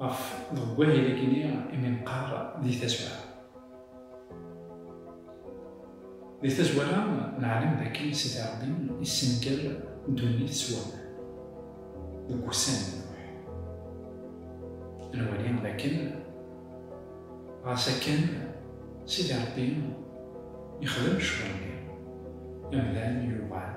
Ɣef deg wahil agini imi neqqar di tazwara. Di tazwara neɛlem dakken Sidi Ṛebbi yessenger ddunit s waman deg wussan n Nuḥ. Nwali dakken ɣas akken Sidi Ṛebbi yexdem ccɣel-nni, amdan yuɣal.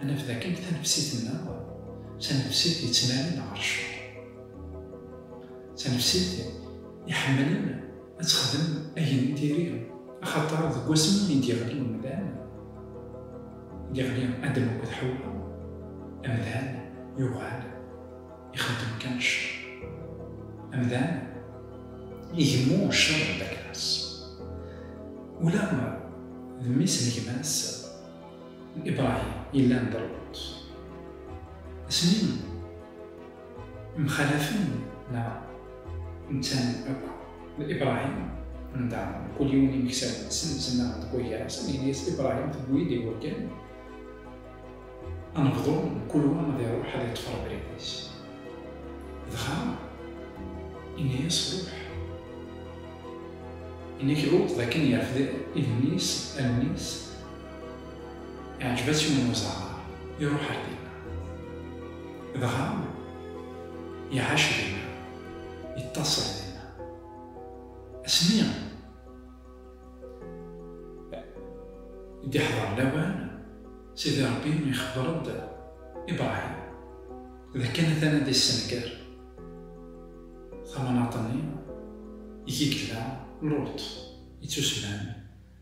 Ad naf dakken tanefsit-nneɣ d tanefsit yettnadin ɣer cceṛ, d tanefsit iḥemmlen ad texdem ayen i d-iri, axaṭer deg wasmi i d-yeɣli umdan, i d-yeɣli Adam akked Ḥewwa, amdan yuɣal ixeddem kan cceṛ. Amdan igemmu cceṛ n Dagras, ula d mmi-s n gma-s. n Ibrahim yellan d rrbuṭ, asmi mxalafen neɣ nttanen akk d Ibrahim nḍaɛen, mkul yiwen imeksawen-nsen ttnaɣen deg wagar-is, ad nini-yas Ibrahim tewwi-d iwakken ad nebḍu mkul wa ad iruḥ ad iṭṭef rrebrit-is, dɣa inna-yas ruḥ, yenna-k Luṭ d akken yerfed igenni-s, allen-is, Iɛǧeb-as yiwen uẓaɣar, iruḥ ar dinna. Dɣa iɛac dinna, iṭṭaṣel dinna. Asmi i d-iḥḍer lawan, Sidi Ṛebbi ixebbeṛ-d Ibṛahim d akken atan ad d-issenger tamnaḍt-nni i k-id-yella Luṭ, ittusemman.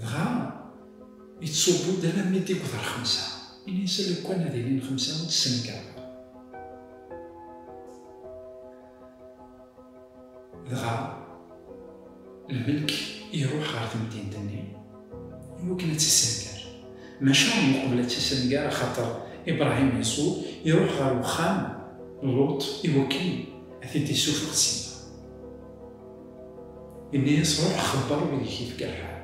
Dɣa yettṣubbu-d alammi d-yewweḍ ɣer xemsa. Ini-as a Lukan ad ilin xemsa ur tt-ssenkareɣ. Dɣa lmelk iruḥ ɣer temdint-nni iwakken ad tt-issenger. Maca yeqbel ad tt-issenger axaṭer Ibrahim Yeṣu iruḥ ɣer wexxam n Luṭ iwakken ad t-id-issufeɣ sima. Yenna-yas, Ruḥ xebber wid i k-ifka lḥal.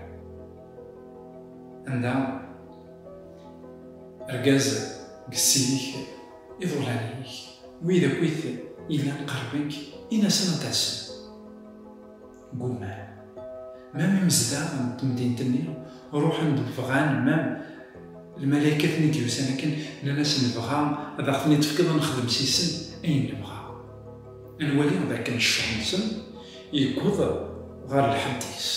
Anda argaz deg ssidik, iḍulan-ik, wid akkit yellan qerben-k, in-asen ad d-asen. Ggumman. Mam imezdaɣ n temdint-nni ruḥen-d bɣan, mam lmalaykat-nni d-yusan akken, nnan-as, Nebɣa ad aɣ-ten-id-tefkeḍ ad nexdem si-sen ayen nebɣa. Ad nwali dakken ccuḥ-nsen yewweḍ ɣer lḥedd-is.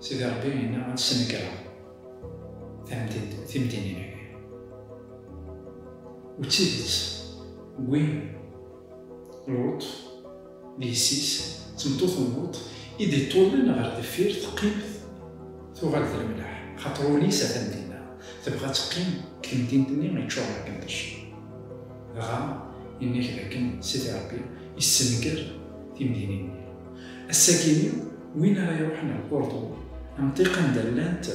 Sidi Ṛebbi yenna ad snegreɣ timdinin-agi. U d tidet, wwin Luṭ d yessi-s, d tmeṭṭut n Luṭ i d-iṭṭullen ɣer deffir teqqimt tuɣal d lemleḥ, axaṭer ul-is atan dinna, tebɣa ad teqqim deg temdint-nni iččuren akken d cceṛ. Dɣa, yenna-k dakken Sidi Ṛebbi yessenger timdinin-nni. Ass-agi-nni, win ara iṛuḥen ɣer Kurḍu, amṭiq anda llant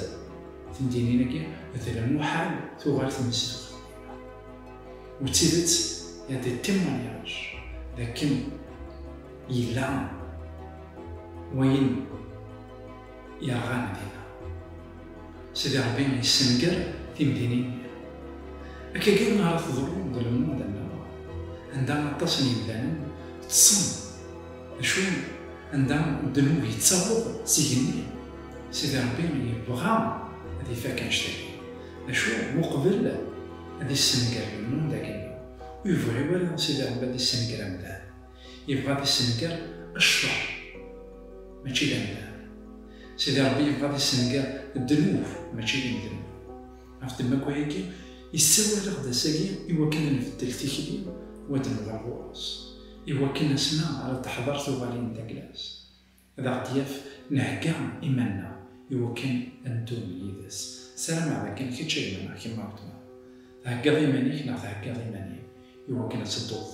temdinin-agi, d lmuḥal tuɣal tmesduɣt. U d tidet, y a des témoignages dakken yella wayen Yerɣan dinna. Sidi Ṛebbi yessenger timdinin-nni. Akka kan ara teḍru deg lmund-nneɣ, anda aṭas n yemdanen ṭṭsen, acu anda ddnub yettaweḍ s igenni, Sidi Ṛebbi yebɣa ad ifak annect-agi, acu uqbel ad issenger lmund-agi-nneɣ, ur yebɣi wara Sidi Ṛebbi ad issenger amdan. Yebɣa ad issenger cceṛ, mačči d amdan. Sidi Ṛebbi yebɣa ad issenger ddnub, mačči d imdnub. Ɣef ddemma n wayagi, yessawal-aɣ-d ass-agi i wakken ad nbeddel tikli u ad d-nuɣal ɣur-s, i wakken asmi ara d-teḥḍer tuɣalin n tagla-s. Ad aɣ-d-yaf nhegga iman-nneɣ i wakken ad neddu yid-s. Sarameɣ dakken kečč a gma neɣ kemm a weltma, theggaḍ iman-ik neɣ theggaḍ iman-im i wakken ad tedduḍ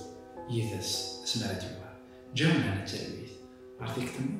yid-s asmi ara d-yuɣal. Ǧǧiɣ Mhenni d talwit ɣer tikti-nni.